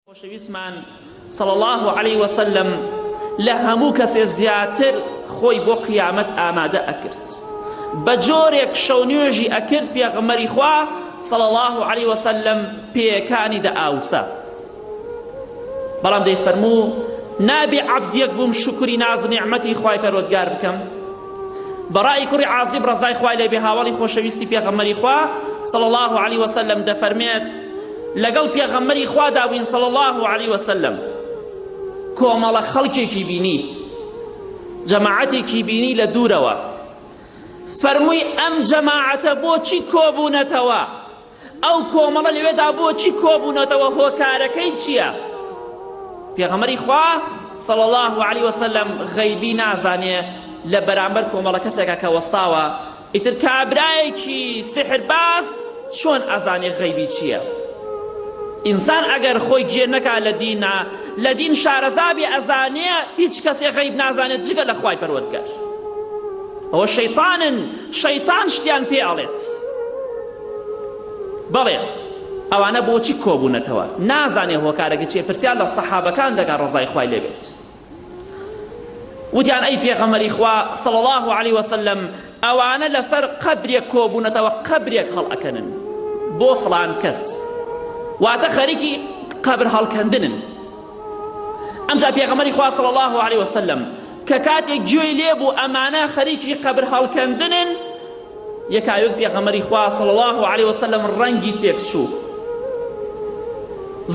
خۆشەویستمان صلی اللە علیە وسلم لە هەموو کەسێ زیاتر خۆی بۆ قیامەت ئامادە ئەکرد بە جۆرێک شەو نوێژی ئەکرد پێغمەری خوا صلی اللە علیە وسلم پێەکانی دە ئاوسە بەڵام دەیفەرموو نابێ عبدیەک بووم شکری ناز نعمەتی خوای پەرۆدگار بکەم بەڕای کوڕی عازیب ڕەزای خوای لێ بێ هاوەڵی خۆشەویستی پێغەمبەری خوا صلی الله علیه وسلم دەفەرمێت لەگەڵ پێغەمبەری خوا دابووین صلی الله علیه وسلم کۆمەڵە خەڵکێکی بینی جەماعەتێکی بینی لە دوورەوە فەرمووی ئەم جەماعەتە بۆچی کۆبوونەتەوە ئەو کۆمەڵە لەوێدا بۆچی کۆبوونەتەوە هۆکارەکەی چییە پێغەمەری خوا صلی الله علیه وسلم غیبی نازانێ لە بەرامبەر کۆمەڵە کەسێکە کە وەستاوە ئیتر کابرایەکی سحرباز چۆن ئەزانێ غیبی چییە ئینسان ئەگەر خۆی گێ نەکا لە دینا لە دین شارەزابی ئەزانێ هیچ کەسێ غیب نازانێت جگە لە خوای پەروەردگار ئەوە شەیطانن شەیطان شتیان پێ ئەڵێت بەڵێ ئەوانە بۆچی کۆبوونەتەوە نازانێ هۆکارەکە چیە پرسیار لە سەحابەکان دەگا ڕەزای خوای لێبێت وتیان ئەی پێغەمەری خوا صلی الله علیه وسلم ئەوانە لەسەر قەبرێک کۆبوونەتەوە قەبرێک هەڵ ئەکەنن بۆ فلان کەس واتە خەریکی قەبر هەڵکەندنن ئەمجا پێغەمەری خوا صلی الله علیه وسلم کە کاتێک گوێی لێبوو ئەمانە خەریکی قەبر هەڵکەندنن یەکایەک پێغەمبەری خوا صلی الله علیه وسلم ڕەنگی تێکچوو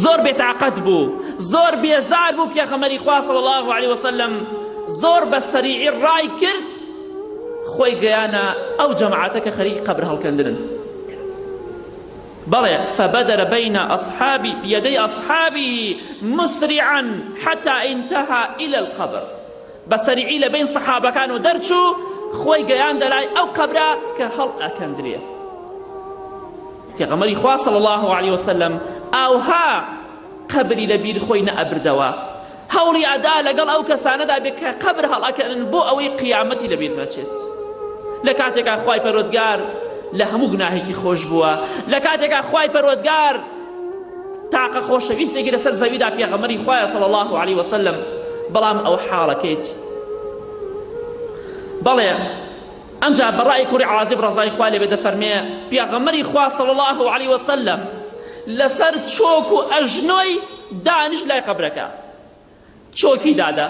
زۆر بێتاقەت بوو زۆر بێزار بوو پێغەمبەری خوا صلی الله علیه وسلم زۆر بە سەریعی ڕای کرد خۆی گەیانە ئەو جەماعەتە کە خەریک قەبر هەڵکەندنن بەڵێ فبدر بين أصحابي بيدي أصحابه مسرعا حتى انتهى إلى القبر بە سەریعی لە بەین سەحابەکان و دەرچوو خۆی گەیاندە لای ئەو قەبرە کە هەڵ ئەکەندرێ پێغەمەری خوا صلی الله علیه وسلم ئاوها قەبری لە بیر خۆی نەئەبردەوە هەوڵی ئەدا لەگەڵ ئەو کەسانەدا بێت کە قەبر هەڵەکەن بۆ ئەوەی قیامەتی لەبیر نەچێت لە کاتێکا خوای پەرۆدگار لە هەموو گوناهێکی خۆش بووە لە کاتێکا خوای پەرۆدگار تاقە خۆشەویستێکی لەسەر زەویدا پێغەمەری خوایە صلی الله عليه وسلم بەڵام ئەو حاڵەکەیتی بەڵێ ئەمجا بەڕای کوڕی عازب ڕزای خوا لێ بێتە فەرمێ پێغەمەری خوا صلی الله عليه وسلم لەسەر چۆک و ئەژنۆی دانیش لای قەبرەکە چۆکی دادە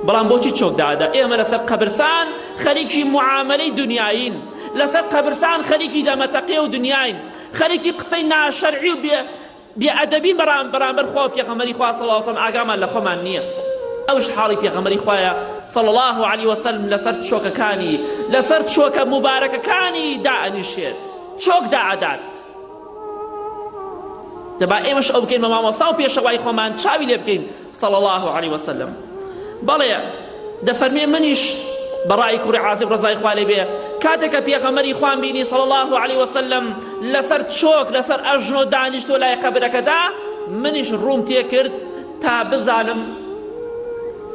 بەڵام بۆچی چۆک دادە ئێمە لەسەر قەبرسان خەریکی معاملەی دنیایین لەسەر قەبرسان خەریکی دەمەتەقێ و دنیاین خەریکی قسەی ناشەرعی و بێ بێئەدەبی بەرام بەرامبەر خوا و پێغەمەری خوا صلی الله علیه و سلم ئاگامان لە خۆمان نییە ئەوش حاڵی پێغەمەری خوایە صلی الله علیه وسلم لەسەر چۆکەکانی لەسەر چۆکە مبارەکەکانی دائەنیشێت چۆک دائەدات جا با ئێمەش ئەو بکەین بە مامۆستا و پێشەوای خۆمان چاوی لێ بکەین صلی الله علیه وسلم بەڵێ دەفەرمێ منیش بەڕای کوڕی عازب ڕزای خوا لێ بێ کاتێک کە پێغەمەری خوان بینی صلی الله علیه وسلم لەسەر چۆک لەسەر ئەژنۆ دانیشتۆ لای قەبرەکەدا منیش ڕووم تێکرد تا بزانم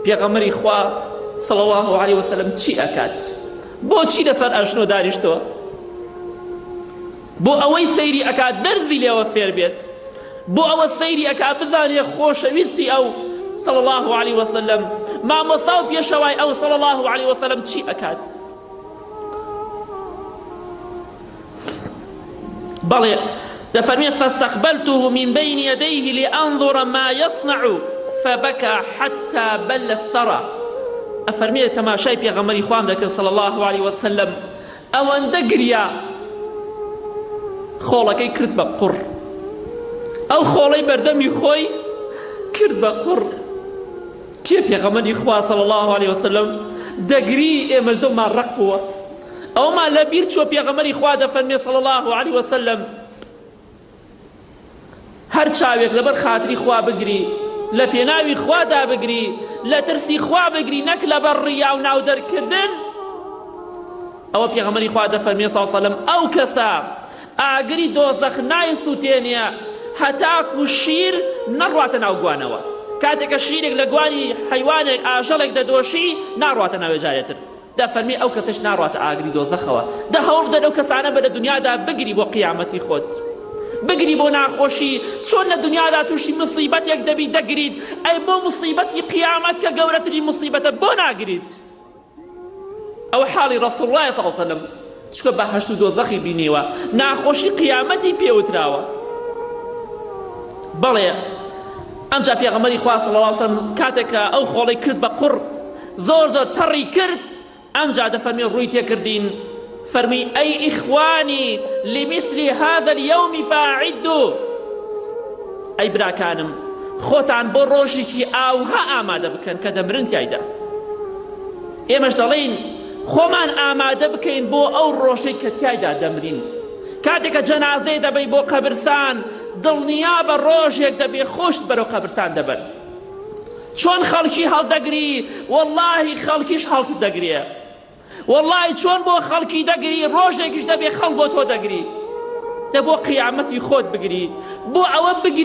پێغەمەری خوا صلی الله علیه وسلم چی ئەکات بۆچی لەسەر ئەژنۆ دانیشتۆ بۆ ئەوەی سەیری ئەکا دەرزی لێوە فێر بێت بۆ ئەوە سەیری ئەکا بزانێ خۆشەویستی ئەو صلی اللە علیە وسلم مامۆستا و پێشەوای ئەو صلی اللە علیە وسلم چی ئەکات بەڵێ دەفەرمێ فاستقبلته من بين يديه لأنظر ما يصنع فبكى حتى بل الثرى ئەفەرمێ تەماشای پێغەمەری خوام دەکرد صلی الله عليه وسلم ئەوەندە گریا خۆڵەکەی کرد بە قوڕ ئەو خۆڵەی بەردەمی خۆی کرد بە قوڕ کێ پێغەمەری خوا صلی الله عليه وسلم دەگری ئێمەش دڵمان ڕق بووە ئەومان لە بیر چوە پێغەمەری خوا دەفەرمێ صلی الله عليه وسلم هەر چاوێک لەبەر خاتری خوا بگری لە پێناوی خوادا بگری لە ترسی خوا بگری نەک لەبەر ڕیا و ناو دەرکردن ئەوە پێغەمەری خوا دەفەرمێ ساوسەلم ئەو کەسە ئاگری دۆزەخ نایسووتێنە هەتاکو شیر نەڕواتە ناو گوانەوە کاتێکە شیرێک لە گوانی حیوانێک ئاژەڵێک دەدۆشی ناڕواتە ناوێ جارێتر دە فەرمی ئەو کەسەش ناڕواتە ئاگری دۆزەخەوە دە هەوڵبدە لەو کەسانە بە لە دنیادا بگری بۆ قیامەتی خۆت بگری بۆ ناخۆشی چۆن لە دنیادا تووشی مصیبەتێک دەبی دەگریت ئەی بۆ مصیبەتی قیامەت کە گەورەتری مصیبەتە بۆ ناگریت ئەو حاڵی ڕسوڵ ڕای سەڵسەلم چونکە بەهەشت و دۆزەخی بینیوە ناخۆشی قیامەتی پێوتراوە بەڵێ ئەمجا پێغەمەری خوا صلی الله علیه وسلم کاتێک ئەو خۆڵی کرد بە قڕ زۆر زۆر تەڕی کرد ئەمجا دەفەرمی ڕووی تێکردین فەرمی ئەی ئیخوانی لمثل هذا اليوم فاعدوا ئەی براکانم خۆتان بۆ ڕۆژێکی ئاوها ئامادە بکەن کە دەمرن تایدا ئێمەش دەڵێین خۆمان ئامادە بکەین بۆ ئەو ڕۆژەی کە تیایدا دەمرین کاتێک کە جەنازەی دەبەی بۆ قەبرسان دڵنیا بە ڕۆژێک دەبێ خۆشت بەرەو قەبرسان دەبەن چۆن خەڵکی هەڵدەگری واللهی خەڵکیش هەڵت دەگرێ واللهی چۆن بۆ خەڵکی دەگری ڕۆژێکیش دەبێ خەڵ بۆ تۆ دەگری دە بۆ قیامەتی خۆت بگری بۆ ئەوە بگری